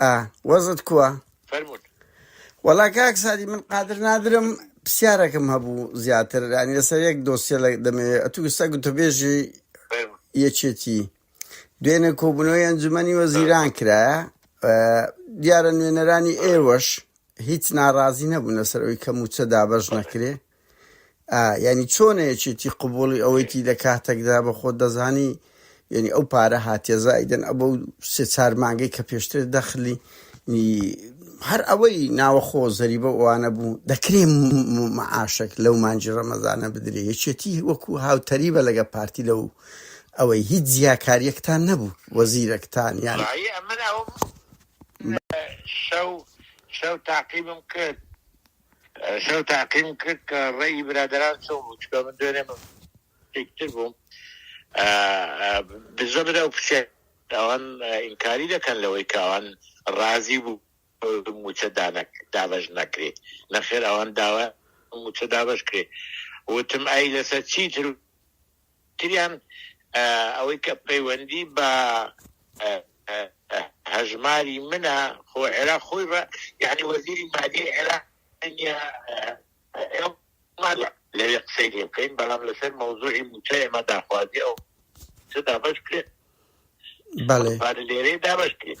ئا وەزت کوە؟ فەرموون. وەڵا کاک سادی من قادر نادرم پسیارەکم هەبوو زیاتر یان لەسەر یەک دۆسیە لە دەمەوێت ئەتو ئستا گوتەبێژی یەکێتی دوێنێ کۆبوونەوەی ئەنجومەنی وەزیران کرایە دیارە نوێنەرانی ئێوەش هیچ ناڕازی نەبوون لەسەر ئەوی کە موچە دابەش نەکرێ ئا یانی چۆنە یەکێتی قبوڵی ئەوەیتی لە کاتەکدا بە خۆت دەزانی یانی ئەو پارە هاتیە زائیدەن ئەبە و سێ چار مانگەی کە پێشتر دەخلی نی هەر ئەوەی ناوەخۆ زەریبە ئەوانە بوو دەکرێ معاشەک لەو مانجی ڕەمەزانە بدرێ یەکێتی وەکو هاوتەریبە لەگە پارتی لەو ئەوەی هیچ جیاکاریەکتان نەبوو وەزیرەکتان یان شەو شەو تاقیبم کرد شەو تاقیم کرد کە ڕێی برادەران چۆن بوو چکە من دوێنێ تر بووم دزە برا و پچێت ئەوان ئینکاری دەکەن لەوەی کە ئەوان ڕازی بوو موچە دانەک دابش نەکرێت نەخێر ئەوان داوە موچە دابش کرێت وتم ئای لەسەر چی تر تریان ئەوەی کە پەیوەندی بە هەژماری منە خۆ عێراق خۆی بە یعنی وەزیری مادی عێراق لەوێ قسەی لێ بکەین بەڵام لەسەر مەوزوعی موچە ئێمە داخوازی ئەو دابش کرێت لێرەی دابش کرێت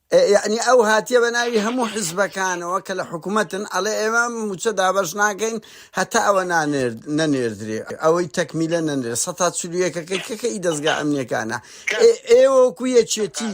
یەعنی ئەو هاتیە بەناوی هەموو حزبەکانەوە کە لە حکومەتن ئەڵێ ئێمە مووچە دابەش ناکەین هەتا ئەوە نانێرد نەنێردرێ ئەوەی تەکمیلە نەنرێ سە تا چلو یەکەکەی کەکە ئی دەستگا ئەمنیەکانە ئێ ئێوەکو یەکێتی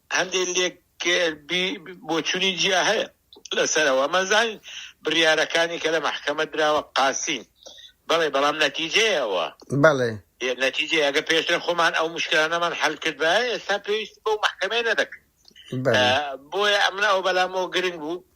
هەندێک لێک بی بۆچونی جیا هەیە لەسەرەوە ئەمە زانین بریارەکانی کە لە مەحکەمە دراوە قاسین بەڵێ بەڵام نەتیجەیەوە بەڵێ نەتیجە ئەگە پێشتر خۆمان ئەو مشکلانەمان حل کرد بە ئێستا پێویست بەو مەحکەمەیە نەدەکرد بەڵێ. آه، بۆیە ئەمن ئەو بەلامەوە گرنگ بوو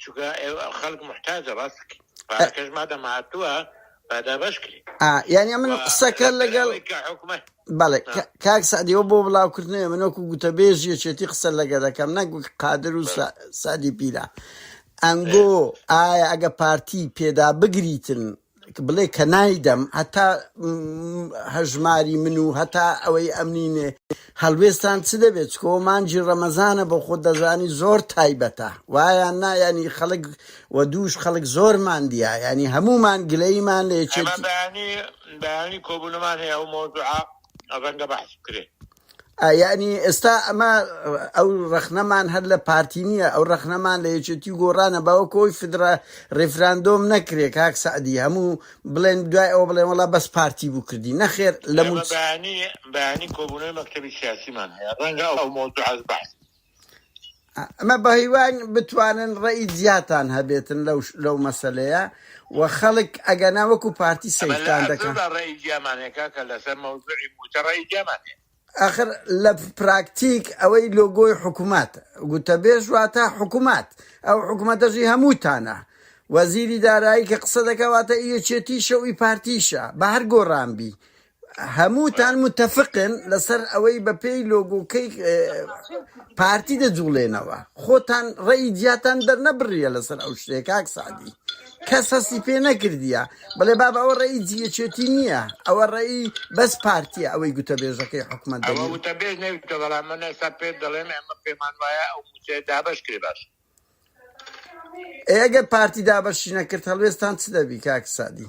چونکە ئێوە خەڵک محتاجە ڕاست بکەی. پارەکەش مادەم هاتووە با دابەش کرێ ئا یعنی من قسەکە لەگەڵ ئەوەی کە حکومەت بەڵێ آه. کا- کاک سعدیەوە بۆ بڵاوکردنەوە من وەکو گوتەبێژ یەکێتی قسە لەگە دەکەم نەک وەک قادر و سا- سعدی پیرە ئەنگۆ ئایا ئەگە پارتی پێدا بگریتن بڵێ کە نایدەم هەتا هەژماری من و هەتا ئەوەی ئەمنینێ هەڵوێستان چ دەبێت چکۆ مانجی ڕەمەزانە بۆ خۆ دەزانی زۆر تایبەتە وایە نایانی خەڵک و دووش خەڵک زۆرمان دیە ینی هەمومان گلەیمان لە یەکێتی بەیانی بەیانی کۆبوونەمان هەیە ئەو مۆزوعە ڕەنگە بەحث بکرێت ئا یانی ئێستا ئەمە ئەو ڕەخنەمان هەر لە پارتی نییە ئەو ڕەخنەمان لە یەکێتی و گۆڕانە باوە کۆی فدرا ڕێفراندۆم نەکرێ کاک سەعدی هەموو بڵێن دوای ئەوە بڵێن وڵا بەس پارتی بوو کردی نەخێر لە مەبانی بەیانی کۆبوونەوەی مەکتەبی سیاسیمان هەیە ڕەنگە ئەو مەوزوعە بەعس ئەمە بە هیوان بتوانن ڕێی جیاتان هەبێتن لەو لەو مەسلەیە و خەڵک ئەگەنا وەکو پارتی ئەمە لە سیرتان دەکەن ئەزۆدا ڕێی دیامانەیە کاکە لەسەر مەوزوعی مووچە ڕێی دیامانەیە ئەخر لە پراکتیک ئەوەی لۆگۆی حکومات گوتەبێژ واتە حکومات ئەو حکومەتەژی هەمووتانە وەزیری دارایی کە قسە دەکەواتە یەکێتیشە و ئی پارتیشە بە هەر گۆڕان بی هەمووتان متفقن لەسەر ئەوەی بە پێی لۆگۆکەی پارتی دەجوڵێنەوە خۆتان ڕێی جیاتان دەرنەبڕیە لەسەر ئەو شتێک کاک سعدی کەس هەستی پێ نەکردیە بڵێ باب ئەوە ڕێی جیەچێتی نییە ئەوە ڕێی بەس پارتیە ئەوەی گوتە بێژەکەی حکومت ئەوە دەبێت وتە بێژ نەویتە بەڵام من ئێستا پێ دەڵێم ئەمە پێمان وایە ئەو موچەیە دابش کرێ باش ئێگەر پارتی دابەشی نەکرد هەڵوێستان چ دەبی کاک سعدی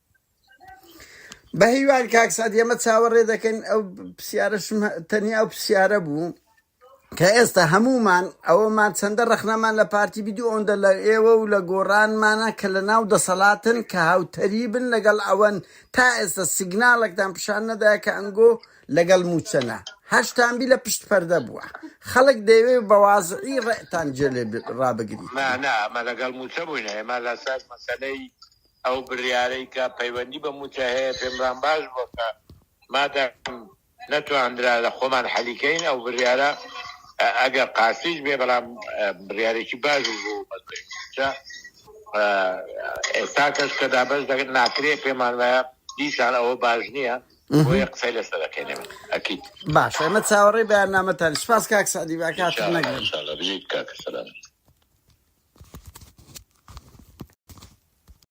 بە هیوان کاک سعد ئێمە چاوەڕێ دەکەین ئەو پرسیارەشم هە- تەنیا ئەو پرسیارە بوو کە ئێستا هەمومان ئەوەمان چەندە ڕەخنەمان لە پارتی بیدو ئەوەندە لە ئێوە و لە گۆڕانمانە کە لە ناو دەسەڵاتن کە هاوتەریبن لەگەڵ ئەوەن تا ئێستا سیگناڵێکتان پیشان نەدایە کە ئەنگۆ لەگەڵ موچەنە هەشتان بی لە پشت پەردە بووە خەڵک دەیەوێ بە وازعی ڕێتان جێ لێ ب- ڕابگریتن ما نا ما لەگەڵ موچە بووینە ئێمە لەسەر مەسەلەی ئەو بریارەی کە پەیوەندی بە موچە هەیە پێمبران باش بوە کە مادام نەتواندرا لە خۆمان حەلی کەین ئەو بریارە ئەگەر قاسیش بێ بەڵام بریارێکی باش بوو مەسلەی موچە ئێستا کەش کە دابش دەگەن ناکرێ پێمان وایە دیسان ئەوە باش نییە بۆیە قسەی لەسەر دەکەین ئەکید باش ئێمە چاوەڕێی بەیاننامەتان سپاس کاک سعدی باکات نەگرن.